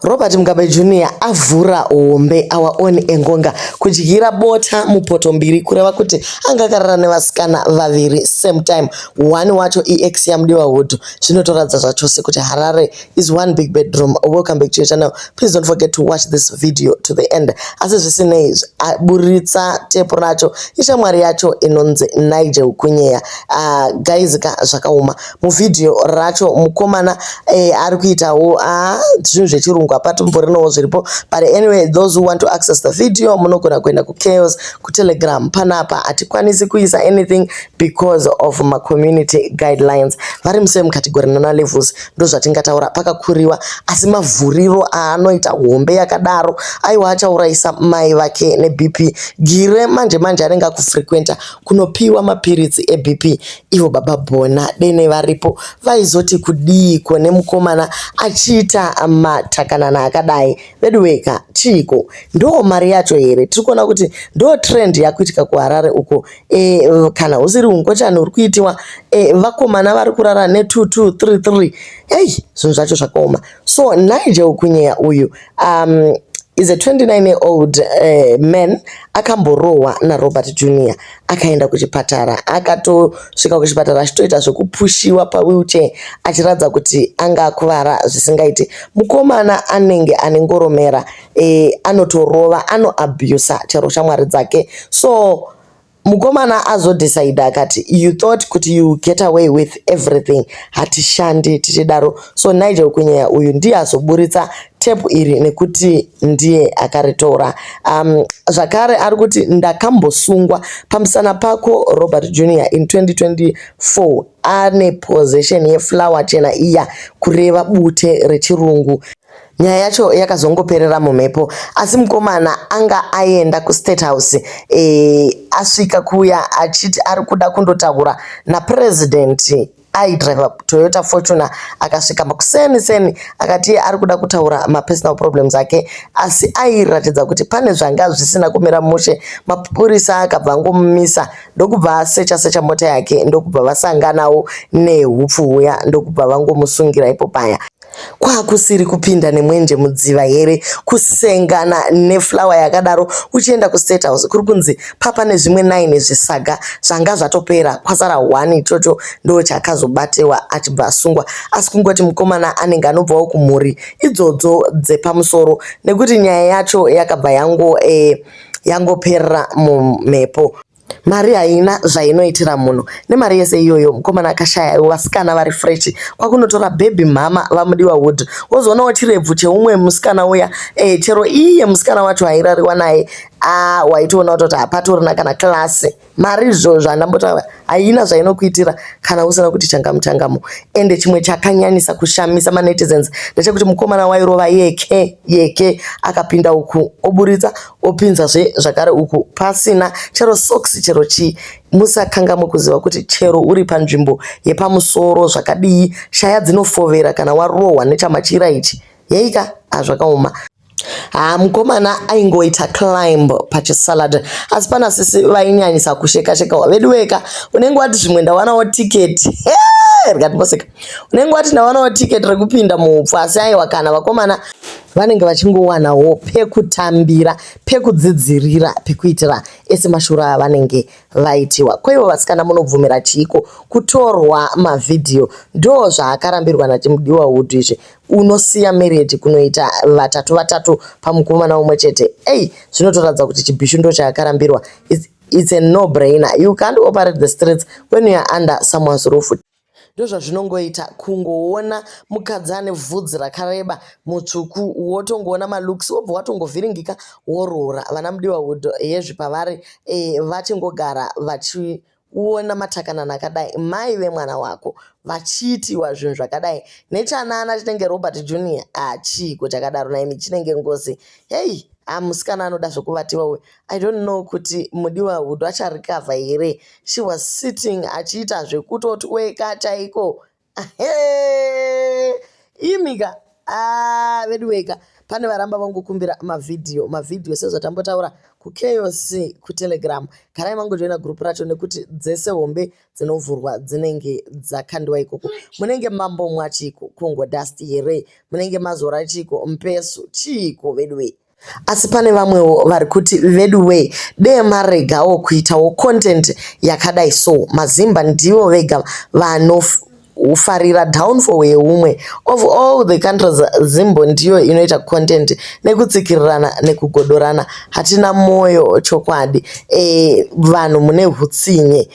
Robert Mugabe Junior avhura hombe our own Engonga kudyira bota mupoto mbiri kureva kuti anga akarara nevasikana vaviri same time one wacho EX yamudiwa hudhu zvinotoratidza zvachose kuti Harare is one big bedroom welcome back to your channel please don't forget to watch this video to the end asi zvisinei buritsa tepu racho ishamwari yacho inonzi Nigel Kunyeya uh, ah, guys ka zvakaoma muvhidhiyo racho mukomana eh, ari kuitawo ah, zvinhu zvechirungu hapatomborinowo zviripo but anyway those who want to access the video munogona kuenda kuchaos kutelegram panapa hatikwanisi kuisa anything because of macommunity guidelines vari musee mukategori nana levels ndo zvatingataura pakakuriwa asi mavhuriro aanoita hombe yakadaro aiwa achaurayisa mai vake nebp gire manje manje anenge akufrequenta kunopiwa mapiritsi ebp Ivo baba Bona dene varipo vaizoti kudiiko nemukomana achiita matakanana akadai veduweka chiiko ndoo mari yacho here tiri kuona kuti ndoo trend yakuitika kuharare uko e, kana husiri ungochani huri kuitiwa e, vakomana vari kurara ne 2233 ei zvinhu zvacho zvakaoma so nigel kunyeya uyu um, is a 29 year old uh, man akamborohwa narobert junior akaenda kuchipatara akatosvika kuchipatara achitoita zvekupushiwa pawheelchair achiratidza kuti anga akuvara zvisingaiti mukomana anenge ane ngoromera eh, anotorova anoabusa chero shamwari dzake so Mukomana azodecider akati you thought kuti you get away with everything hatishandi tichidaro so Nigel Kunyeya uyu ndiye azoburitsa tepu iri nekuti ndiye akaritora um, zvakare ari kuti ndakambosungwa pamusana pako robert junior in 2024 ane possession yeflower chena iya kureva bute rechirungu Nyaya yacho yakazongoperera mumhepo asi mukomana anga aenda kustate house e, asvika kuya achiti ari kuda kundotaura napresident aidriver toyota fortuner akasvika makuseni seni akati iye ari kuda kutaura mapersonal problems ake asi airatidza kuti pane zvanga zvisina kumira mushe mapurisa akabva angomumisa ndokubva asecha secha mota yake ndokubva vasanganawo neupfu huya ndokubva vangomusungira ipo paya kwakusiri kupinda nemwenje mudziva here kusengana neflower yakadaro uchienda kustate house kuri kunzi papa nezvimwe nine zvisaga zvanga zvatopera kwasara one ichocho ndo chakazobatewa achibva asungwa asi kungoti mukomana anenge anobvawo kumhuri idzodzo dzepamusoro nekuti nyaya yacho yakabva yango eh, yangoperera mumhepo Mari haina zvainoitira munhu nemari yese iyoyo mukomana akashaya iwo vasikana vari fresh kwakunotora baby mhama vamudiwa wood wozoonawo chirebvu cheumwe musikana uya eh, chero iye musikana wacho hairariwa naye ah waitoona kutoti hapatorina kana klasi mari zvo zvandambotaura haina zvainokuitira kana usina kuti changamu changamu ende chimwe chakanyanyisa kushamisa manetizens ndechekuti mukomana wairova yeke yeke akapinda uku oburitsa opinzazve zvakare uku pasina chero socks chero chii musakangamwe kuziva kuti chero uri panzvimbo yepamusoro zvakadii shaya dzinofovera kana warohwa nechamachira ichi yeika azvakaoma haa mukomana aingoita climb pachisalad asi pana sisi vainyanyisa kusheka sheka vedu weka unenge wati zvimwe ndawanawo tiketi rikati poseka unenge wati ndawanawo tiketi rekupinda muupfu asi aiwa kana vakomana vanenge vachingowanawo pekutambira pekudzidzirira pekuitira ese mashura avanenge vaitiwa kwaivo vasikana munobvumira chiiko kutorwa mavhidhiyo ndo zvaakarambirwa nachimudiwa wood izvi unosiya mereji kunoita vatatu vatatu pamukomana umwe chete ei zvinotoratidza kuti chibhishu ndo chaakarambirwa it's a no brainer you can't operate the streets when youare under someone's roof Ndozvazvinongoita kungoona mukadzi ane vhudzi rakareba mutsvuku wotongoona malooks wobva watongovhiringika woroora. Vana Mudiwawood hezvi pavari eh, vachingogara vachiona matakanana akadai mai vemwana wako vachiitiwa zvinhu zvakadai nechanana chinenge Robert Junior ah chiiko chakadaro nhaimi chinenge ngozi. Hey, ah musikana anoda zvekuvatiwa uyu. I don't know kuti mudiwa Hudu acha recover here she was sitting achiita zvekutotweka chaiko ahee imika ah veduweka pane varamba vangokumbira mavhidhiyo mavhidhiyo sezvatambotaura kuchaos kutelegram garai mangojoina group racho nekuti dzese hombe dzinovhurwa dzinenge dzakandiwa ikoko munenge mambomwa chiiko congo dust here munenge mazora chiiko mpesu chiiko veduwee Asi pane vamwewo vari kuti veduwee dee maregawo kuitawo content yakadai so. MaZimba ndivo vega vanofarira downfall yeumwe. Of all the countries Zimbo ndiyo inoita content nekutsikirirana nekugodorana. Hatina moyo chokwadi. Eeh vanhu mune hutsinye.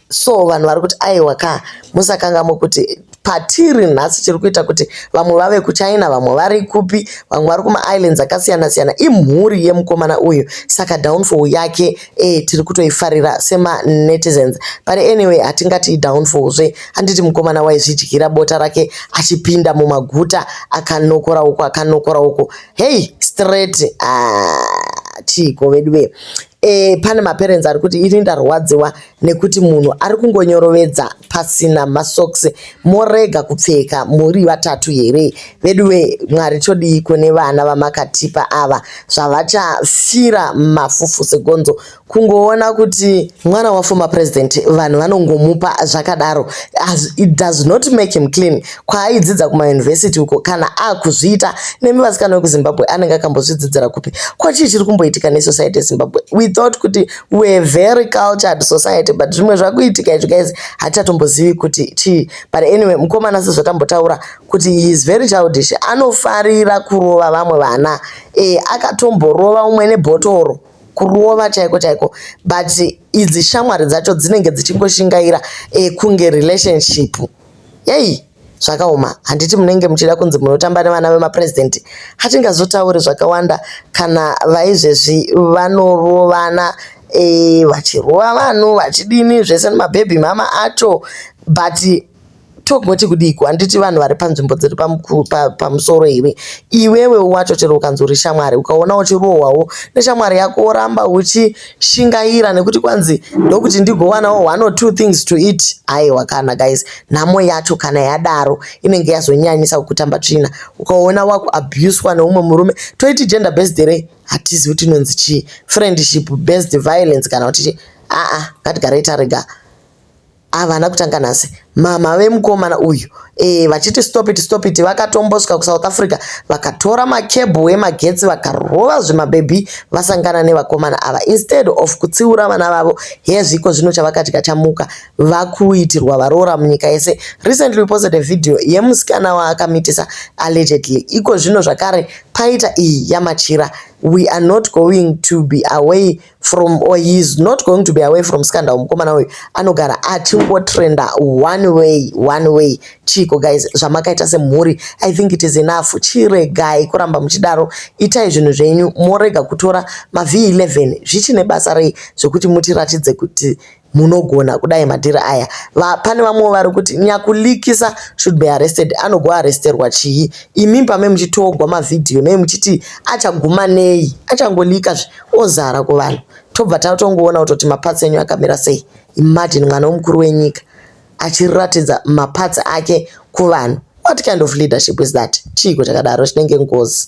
so vanhu vari kuti aiwa ka musakangamwe kuti patiri nhasi chiri kuita kuti vamwe vave kuchina vamwe vari kupi vamwe vari kumaislands akasiyana siyana imhuri yemukomana uyu saka downfall yake e, tiri kutoifarira semanetizens but anyway hatingati idownfall zve handiti mukomana waizvidyira bota rake achipinda mumaguta akanokora uko akanokora uko hei straight ah, chiiko vedu ve e, pane maparents ari kuti ini ndarwadziwa nekuti munhu ari kungonyorovedza pasina masocks morega kupfeka muri vatatu here veduwe mwari todiiko nevana vamakatipa ava zvavachafira mafufu segonzo kungoona kuti mwana waformer president vanhu vanongomupa zvakadaro it does not make him clean kwaaidzidza kumayunivhesiti uko kana akuzviita nemi vasikana vekuzimbabwe anenge akambozvidzidzira kupi ko chii chiri kumboitika nesociety yezimbabwe we thought kuti weare very cultured society but zvimwe zvakuitika izvi guys hatichatombozivi kuti chii but anyway mukomana sezvatambotaura kuti he is very childish anofarira kurova vamwe vana e, akatomborova umwe nebhotoro kurova chaiko chaiko but idzi shamwari dzacho dzinenge dzichingoshingaira e, kunge relationship Yei zvakaoma handiti munenge muchida kunzi munotamba nevana vemapresident hatingazotauri zvakawanda kana vaizvezvi vanorovana e, vachirova vanhu vachidini zvese nemabhebhi mama acho but togoti kudiko handiti vanhu vari panzvimbo dziri pamusoro here iwewe wacho chero ukanzi uri shamwari ukaona uchirohwawo neshamwari yako woramba uchi shingaira nekuti kwanzi ndokuti ndigowanawo one or two things to eat aiwa kana guys nhamo yacho kana yadaro inenge yazonyanyisa kukutamba tsvina ukaona wakuabuswa neumwe murume toiti gender based here hatizi kuti inonzi chii friendship based violence kana kuti chii aa ngatigarei tarega Havana kutanga nhasi mama vemukomana uyu e, vachiti stop it stop it vakatombosvika kusouth africa vakatora makebhu emagetsi vakarova zvimabhebhi vasangana nevakomana ava instead of kutsiura vana vavo hezviko zvino chavakati kachamuka vakuitirwa varoora munyika yese recently posted a video yemusikana waakamitisa allegedly iko zvino zvakare paita iyi yamachira we are not going to be away from or he is not going to be away from scandal mukomana uyu anogara achingotrenda one way one way chiiko guys zvamakaita semhuri i think it is enough chiregai kuramba muchidaro itai zvinhu zvenyu morega kutora mavhi 11 zvichine basa rei zvekuti mutiratidze kuti Munogona kudai madhiri aya. Va, pane vamwewo vari kuti nyakulikisa should be arrested. Anogoarresterwa chii? Imi pamai muchitogwa mavideo nei muchiti achaguma nei? Achangolika zve ozara kuvanhu tobva tatongoona kutoti maparts enyu akamira sei. Imagine mwana wemukuru wenyika achiratidza maparts ake kuvanhu. What kind of leadership is that? Chiiko chakadaro chinenge ngozi.